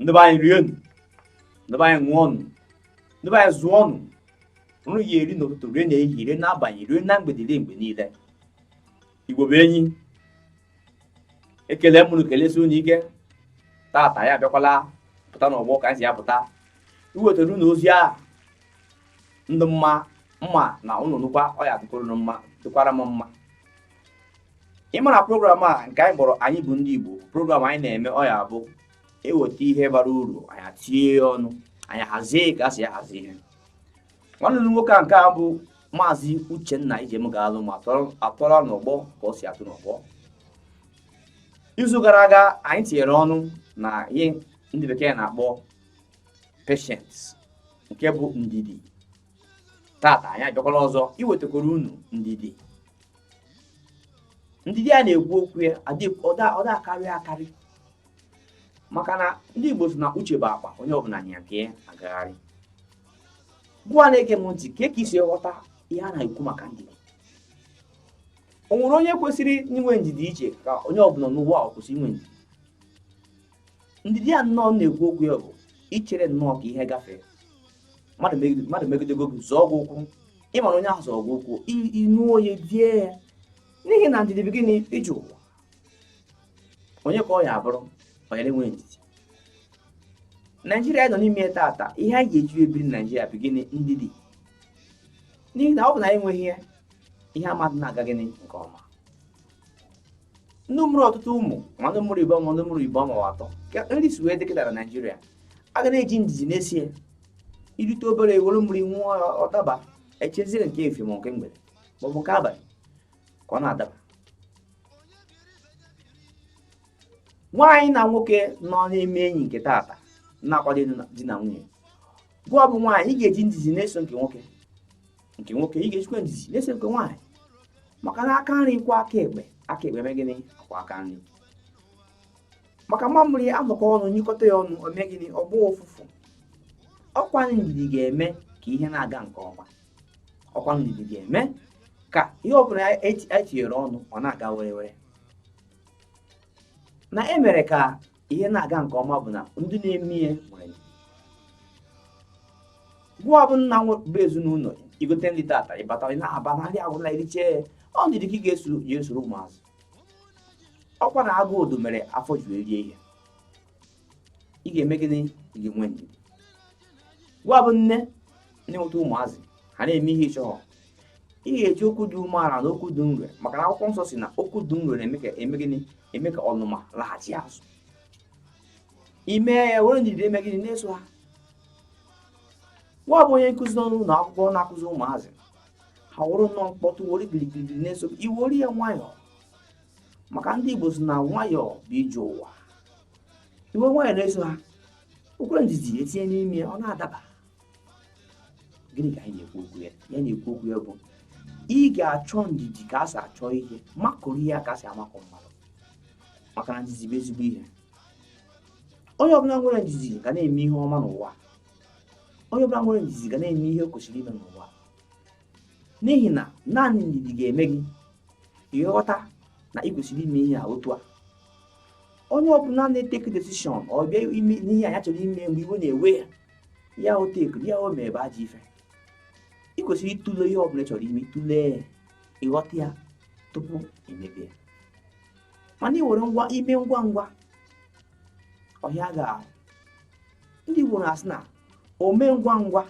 ndị be anyị rienụ ndị be anyị ṅụọnụ ndị be anyị zụọnụ unu ya-eri n'ụtụtụ rie n'ehihie rie n'abalị rie na mgbede rie mgbe niile igbo bụ enyi ekele m unu kelesi unu ike tata anyị abịakwala pụta n'ọgbọ ka anyị si apụta iwetara unu ozi a dị mma mma na unu nụkwa ọ ya-adịkwara unu mma dịkwara m mma ịmara program a nke anyị kpọrọ anyị bụ ndị Igbo program anyị na-eme ọ ya-abụ e weta ihe bara uru anyị atinye ya ọnụ anyị hazie ka a si ahazi ihe nwanne m nwoke a nke bụ maazị Uchenna Ijem ga-alụ ma atọrọ n'ọgbọ ka ọ si atụ n'ọgbọ izu gara aga anyị tinyere ọnụ na ihe ndị bekee na-akpọ patience nke bụ ndidi tata anyị abịakwala ọzọ iwetakwara unu ndidi ndidi a na-ekwu okwu ya ọ da-akarị akarị maka na ndị Igbo sị na uche bụ akpa onye ọbụla nya nke ya agagharị gụwa na-ege m ntị kee ka i si ghọta ihe a na-ekwu maka ndidi o nwere onye kwesịrị inwe ndidi iche ka onye ọbụla n'ụwa ọ kwesị inwe ndidi ndidi a m nọ na-ekwu okwu ya bụ ichere nnọọ ka ihe gafee mmadụ megidego gị zọọ gị ụkwụ ịmara onye ahụ zọọ gị ụkwụ inu onye die ya n'ihi na ndidi bụ gịnị ije ụwa onye ka ọ ya-abụrụ onye na-enweghị ndidi naijiria anyị nọ n'ime tata ihe anyị ga-eji ebiri naijiria bụ gịnị ndidi n'ihi na ọ bụ na anyị enweghị ya ihe amadị na-aga gịnị nke ọma ndị mụrụ ọtụtụ ụmụ ma ndị mụrụ ịbụọ ma ndị mụrụ ịbụọ ma atọ ka nri si wee dị kịta na naijiria a ga na-eji ndidi na-esi ya i rite obere i were mmiri ṅụọ ọ daba echezie nke efifie ma nke mgbede ma ọ bụ nke abalị ka ọ na-adaba nwaanyị na nwoke nọ na-eme enyi nke tata na-akwado di na nwunye gụwa bụ nwaanyị ị ga-eji ndidi na-eso nke nwoke nke nwoke ị ga-ejikwa ndidi na-eso nke nwaanyị maka na aka nri kwọọ aka ekpe aka ekpe mee gịnị akwọọ aka nri maka mamịrị a nọkọ ọnụ nyụkọta ya ọnụ o mee gịnị ọ gbaa ụfụfụ ọkwa ndidi ga-eme ka ihe na-aga nke ọma ọkwa ndidi ga-eme ka ihe ọbụla e tinyere ọnụ ọ na-aga were were na emere ka ihe na-aga nke ọma bụ na ndị na-eme ihe nwere ndidi gụwa bụ nna bụ ezinụlọ i gote nri tata ị bata n'abalị nri agwụla eriche ọ ndidi ka ị ga-esoro ụmụazị ọkwa na agụụ odo mere afọ ji erie ihe ị ga-eme gịnị ị ga-enwe ndidi gụwa bụ nne na-enweta ụmụazị ha na-eme ihe ị chọghọ ị ga-eji okwu dị umeala na okwu dị nro maka na akwụkwọ nsọ sị na okwu dị nro na-eme ka eme gịnị eme ka ọnụma laghachi azụ ime ya were ndidi eme gịnị na-eso ha nwa bụ onye nkụzi n'ụlọ akwụkwọ na-akụzi ụmụazị ha wụrụ nnọọ mkpọtụ were gịrịgịrị na-eso i were ya nwayọọ maka ndị Igbo sị na nwayọọ bụ ije ụwa i were nwayọọ na-eso ha okwere ndidi etinye n'ime ọ na-adaba gịnị ka anyị na-ekwu okwu ya ihe a na-ekwu okwu ya bụ ị ga-achọ ndidi ka a si achọ ihe makụrụ ihe ka a si amakụ mmadụ maka na ndidi bụ ezigbo ihe onye ọbụla nwere ndidi ga na-eme ihe ọma n'ụwa onye ọbụla nwere ndidi ga na-eme ihe o kwesịrị ime n'ụwa n'ihi na naanị ndidi ga-eme gị ịghọta na ị kwesịrị ime ihe a otu a onye ọbụla na-etake decision ọ bịa ime n'ihe anya chọrọ ime mgbe iwe na-ewe ya ya o take ya o mebe ajọ ife ị kwesịrị ịtụle ihe ọbụla ị chọrọ ime ị tụlee ị ghọta ya tupu i mebe ya mana ị were ngwa ime ngwa ngwa ọ hịa gị ahụ ndị Igbo na-asị na ome ngwa ngwa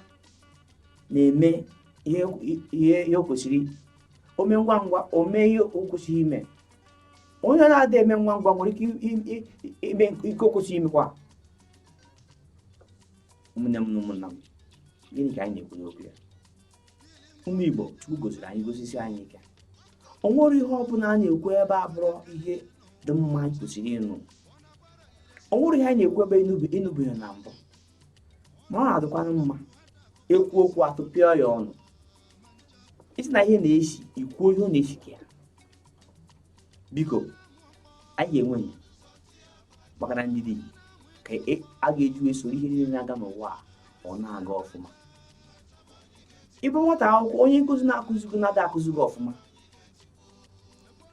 na-eme ihe o kwesịrị ome ngwa ngwa ome ihe o kwesịrị ime onye na-adị eme ngwa ngwa nwere ike ime ihe o kwesịrị imekwa ụmụnne m na ụmụnna m gịnị ka anyị na-ekwu n'okwu ya ụmụ Igbo Chukwu gọziri anyị gọzisie anyị ike o nwere ihe ọ bụla a na-ekwu ebe a bụrụ ihe dị mma anyị kwesịrị ịnụ o nwere ihe anyị na-ekwu ebe ị nụbeghị na mbụ ma ọ na-adịkwanụ mma e kwuo okwu a tụpịa ya ọnụ ị sị na ihe na-esi i kwuo ihe ọ na-esi ka ya biko anyị ga-enwe ndidi maka na ndidi ka e, a ga-eji wee soro ihe niile na-aga n'ụwa ọ na-aga ọfụma ị bụ nwata akwụkwọ onye nkụzi na-akụzi gị ọ na-ada akụzi gị ọfụma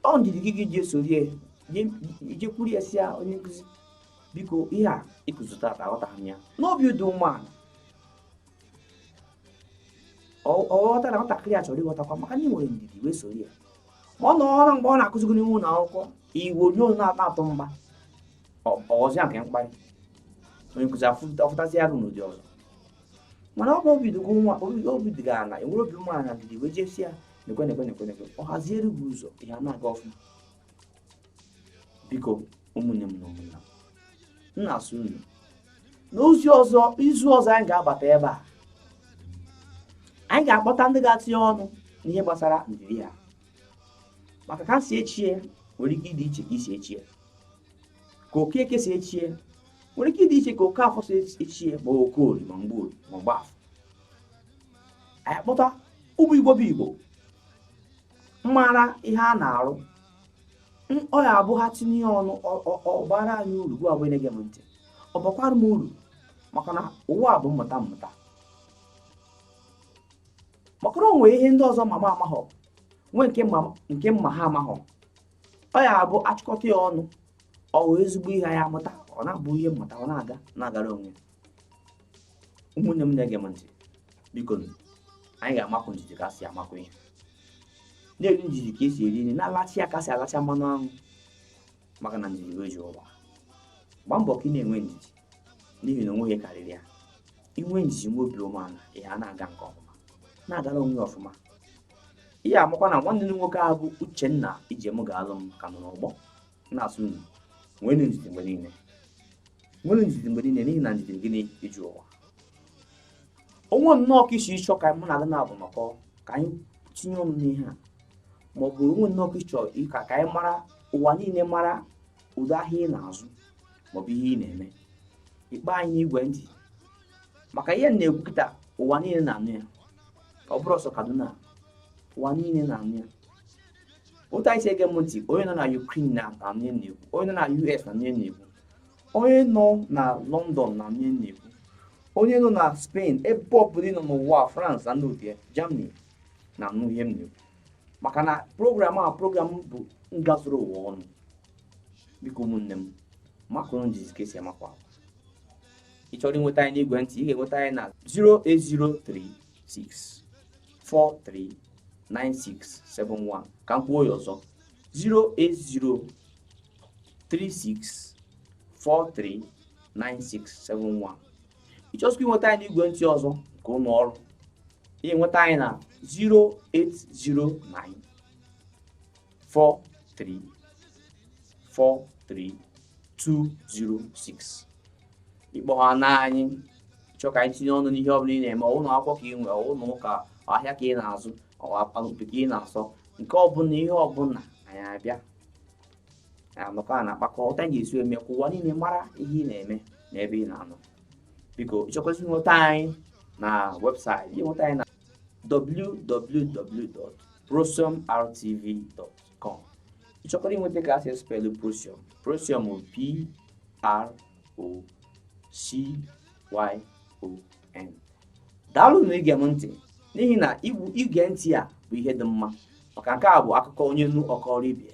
ọ ndidi ka ị ga-eji esoro ya i jekwuru ya sị ya onye nkụzi biko ihe a ị kụzi tata aghọtaghị m ya n'obi dị umeala ọ ghọta na nwatakịrị a chọrọ ịghọtakwa maka na ị nwere ndidi wee soro ya mana ọ bụrụ mgbe ọ na-akụzi gị n'ime ụlọ akwụkwọ iwu onye onye na-atọ atọ mgba ọ ghọzịa nke mkparị onye nkụzi afụtazi arụ n'ụdị ọzọ mana ọ bụ obi dị gị nwa obi dị gị ala i were obi umeala ndidi wee jee sị ya nekwe nekwe nekwe nekwe ọ haziere gị ụzọ ihe a na-aga ọfụma biko ụmụnne m na ụmụnna m na-asị unu n'ozi ọzọ izu ọzọ anyị ga-abata ebe a anyị ga-akpọta ndị ga-atinye ọnụ n'ihe gbasara ndidi a maka ka si echie nwere ike ịdị iche ka i si echie ka okeke si echie nwere ike ịdị iche ka okafọ si echie ma okorie ma mgborie ma mgbafọ anyị kpọta ụmụ igbo bụ igbo mara ihe a na-arụ ọ ya abụ ha tinye ọnụ ọ baara anyị uru gịwa bụ onye na-ege m ntị ọ bakwara m uru maka na ụwa bụ mmụta mmụta maka na o nwere ihe ndị ọzọ ma m amaghọ nwee nke m ma ha amaghọ ọ ya abụ a chịkọta ya ọnụ o nwee ezigbo ihe a ya-amụta ọ na-abụ ihe mmụta ọ na-aga na-agara onwe ya ụmụnne m na-ege m ntị biko anyị ga-amakụ ndidi ka a si amakụ ihe na-eri ndidi ka e si eri nri na-alacha ya ka a si alacha mmanụ anwụ maka na ndidi wee ji ụwa gbaa mbọ ka ị na-enwe ndidi n'ihi na o nweghị ihe karịrị ya inwe ndidi nwe obi umeala ihe a na-aga nke ọfụma na-agara onwe ya ọfụma ị ya-amakwa na nwanne m nwoke ahụ bụ Uchenna Ijem ga-alụ m ka nọ n'ọgbọ na-asị unu nwere ndidi mgbe niile nwere ndidi mgbe niile n'ihi na ndidi gịnị iji ụwa o nwee nnọọ ka i si achọ ka mụ na gị naabọ nọkọ ka anyị tinye ọnụ n'ihe a ma ọ bụ o nwee nnọọ ka ị chọ ka ka anyị mara ụwa niile mara ụdị ahịa ị na-azụ maọbụ ihe ị na-eme ị kpọọ anyị n'igwe ntị maka ihe a na-ekwu kịta ụwa niile na-anụ ya ọ bụrọ sọ Kaduna ụwa niile na-anụ ya otu unu si ege m ntị onye nọ na Ukraine na-anụ ihe m na-ekwu onye nọ na US na-anụ ihe m na-ekwu onye nọ na London na-anụ ihe m na-ekwu onye nọ na Spain ebe ọbụla ị nọ n'ụwa France ma ọ bụ Germany na-anụ ihe m na-ekwu maka na program a program bụ ngazuru ụwa ọnụ biko ụmụnne m makụrụ ndidi ka e si amakụ akwa ị chọrọ inweta anyị n'igwe ntị ị ga-enweta anyị na 0803 6439671 ka m kwuo ya ọzọ 08036439671 ị chọzịkwa inweta anyị n'igwe ntị ọzọ nke ụlọ ọrụ ị nweta anyị na 0809 four three four three two zero six ị kpọhana anyị chọọ ka anyị tinye ọnụ n'ihe ọbụla ị na-eme ụlọ akwụkwọ ka ị nwere ụlọ ụka ahịa ka ị na-azụ ọkpakpe ka ị na-asọ nke ọbụla ihe ọbụla anyị abịa anọkọ a na-akpakọ otu anyị ga-esi eme ka ụwa niile mara ihe ị na-eme na ebe ị na-anọ biko ị chọkwazị inweta anyị na webụsaịtị i nweta anyị na www.procyonrtv.com ị chọkwara inweta ka a sị spelụ procyon procyon bụ p r o c y o n daalụ na ige m ntị n'ihi na ige ntị a bụ ihe dị mma maka nke a bụ akụkọ onye nụ ọ kọọrọ ibe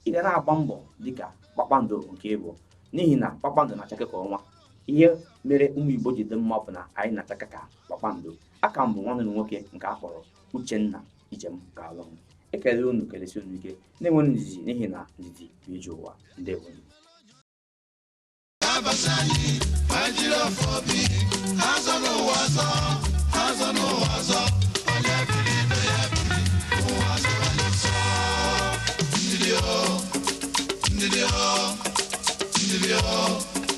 ị ga na-agba mbọ dịka kpakpando nke ị bụ n'ihi na kpakpando na-achake ka ọnwa ihe mere ụmụ igbo ji dị mma bụ na anyị na-achake ka kpakpando aka m bụ nwanne unu nwoke nke a kpọrọ Uchenna Ijem ga-alụ m ekele unu kelesie unu ike na-enwere ndidi n'ihi na ndidi bụ ije ụwa ndewo Ndị